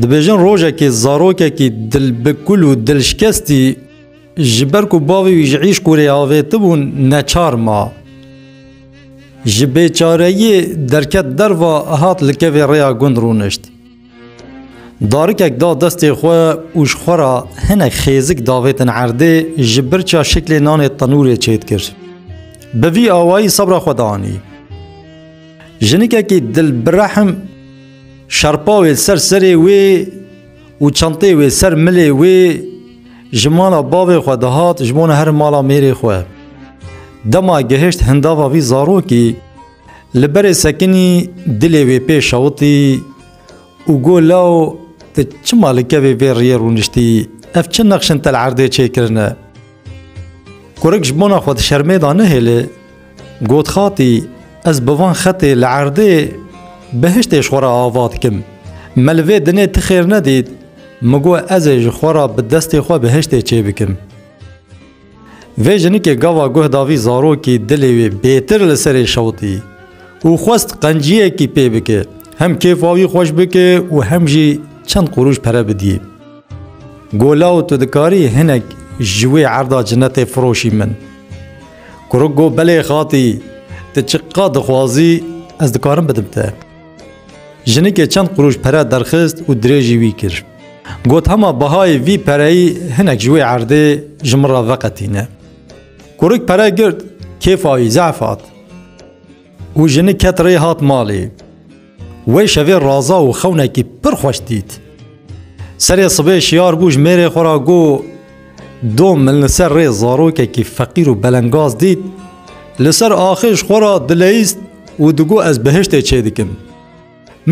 Dibêjin rojekê zarokekî dilbikul û dilşkestî ji ber ku bavê wî ji îşq û rê avêtibûn neçar ma. Ji bêçareyiyê derket derva hat li kevê rêya gund rûnişt. Darikek da destê xwe û ji xwe ra hinek xêzik davêtin erdê ji birça şiklê nanê tenûrê çêdikir. Bi vî awayî sebra xwe danî. Jinikekî dil bi rehim şerpa wê ser serê wê û çentê wê ser milê wê ji mala bavê xwe dihat ji bo neherin mala mêrê xwe. Dema gihişt hindava vî zarokî li berê sekinî dilê wê pê şewitî û got law tu çima li kevê vê riyê rûniştî ev çi nexşin te li erdê çêkirine. Kurik ji bona xwe di şermê de nehêle Got Xatî, ez bi van xetê li erdê behiştê ji xwe re ava dikim. Me li vê dinê ti xêr nedît, min got ez ê ji xwe re bi destê xwe behiştê çêbikim. Vê jinikê gava guh da vî zarokî dilê wê bêtir li serê şewitî û xwest qenciyekî pê bike, hem kêfa wî xweş bike û hem jî çend qurûj pere bidî. Got law tu dikarî hinek ji wê erda cinetê firoşî min. Kuruk got, Belê xatî, tu çi qat dixwazî ez dikarim bidim te. Jinikê çend qurûş pere derxist û dirêjî wî kir. Got, Hema bihayê vî pereyî hinek ji wê erdê ji min re veqetîne. Kuruk pere girt, kêfa wî zehf hat. Û jini ket rê hat malê. Wê şevê Raza û xewnekî pir xweş dît. Serê sibê şiyar bû ji mêrê xwe ra got, Dom min li ser rê zarokekî feqîr û belengaz dît, li ser axê ji xwe ra dileyîst û digot ez bihiştê çêdikim.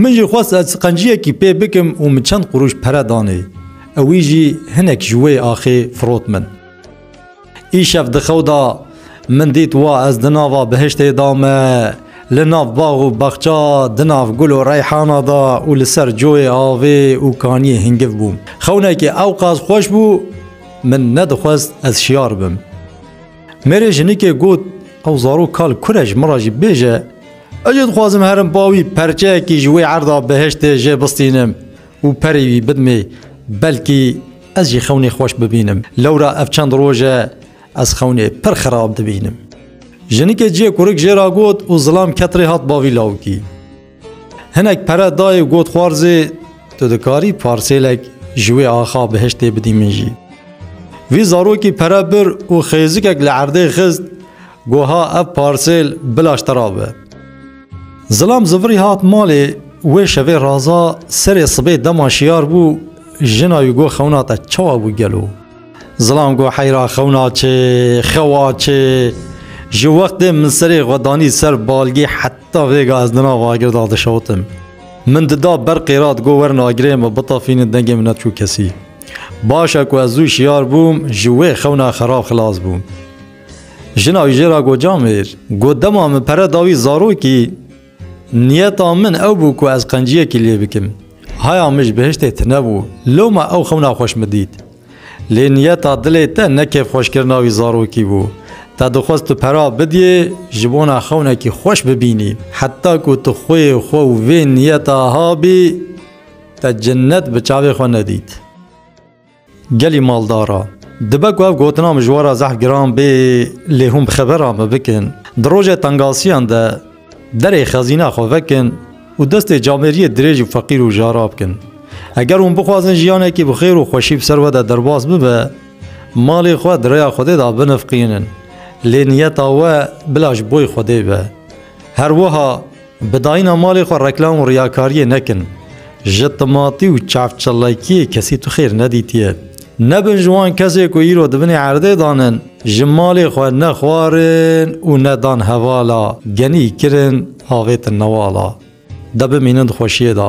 Min jî xwest ez qenciyekî pê bikim û min çend qurûş pere danê. Ewî jî hinek ji wê axê firot min. Îşev di xew de min dît wa ez di nava bihiştê de me, li nav bax û bexça, di nav gul û reyhana de û li ser coyê avê û kaniyê hingiv bûm. Xewnekê ewqas xweş bû min nedixwest ez şiyar bim. Mêrê jinikê got ew zarok kal kure ji min re jî bêje ez jê dixwazim herim ba wî perçeyekî ji wê erda behiştê jê bistînim û perê wî bidimê belkî ez jî xewnê xweş bibînim. Lewra ev çend roj e ez xewnê pir xirab dibînim. Jinikê ciyê kurik jê re got û zilam ket rê hat bavî lawikî. Hinek pere dayê got xwarzê tu dikarî parsêlek ji wê axa bihiştê bidî min jî. Vî zarokî pere bir û xêzikek li erdê xist goha ev parsêl bila ji te ra be. Zilam zivirî hat malê wê şevê raza serê sibê dema şiyar bû jina wî got xewna te çawa bû gelo. Zilam ku heyra xewna çê, xewa çê. Ji wextê min serê xwe danî ser balgê heta vêga ez di nav agir de dişotim. Min dida ber qêrat got werin agirê me bitafînin dengê min neçû kesî. Baş e ku ez zû şiyar bûm ji wê xewna xerab xilas bûm. Jina wî jê re got Camêr, got dema min pere da wî zarokî, Niyeta min ew bû ku ez qenciyekî lê bikim. Haya mij bihiştê tune bû, loma ew xewna xweş min dît. Lê niyeta dilê te ne kêfxweşkirina wî zarokî bû. Te dixwest tu pera bidiyê, ji bona xewnekî xweş bibînî. Heta ku tu xweyê xwe û vê niyeta habî, te cinnet bi çavê xwe nedît. Gelî maldar a. Dibe ku ev gotina min ji we re zehf giran bê lê hûn bi xebera min bikin. Di rojê tengasiyan de derê xezîna xwe vekin û destê camêriyê dirêj û feqîr û jara bikin. Eger hûn bixwazin jiyanekî bi xêr û xweşî bi ser we de derbas bibe, malê xwe di rêya Xwedê de binifiqînin. Lê niyeta we bila ji boî Xwedê be. Her wiha. Bi dayîna malê xwe reklam û riyakariyê nekin. Ji timatî û çavçilekiyê kesî tu xêr nedîtiye. Nebin ji wan kesê ku îro di binê erdê dan in, ji malê xwe ne xwarin û ne dan hevala, genî kirin, avêtin newala. De bimînin di xweşiyê de.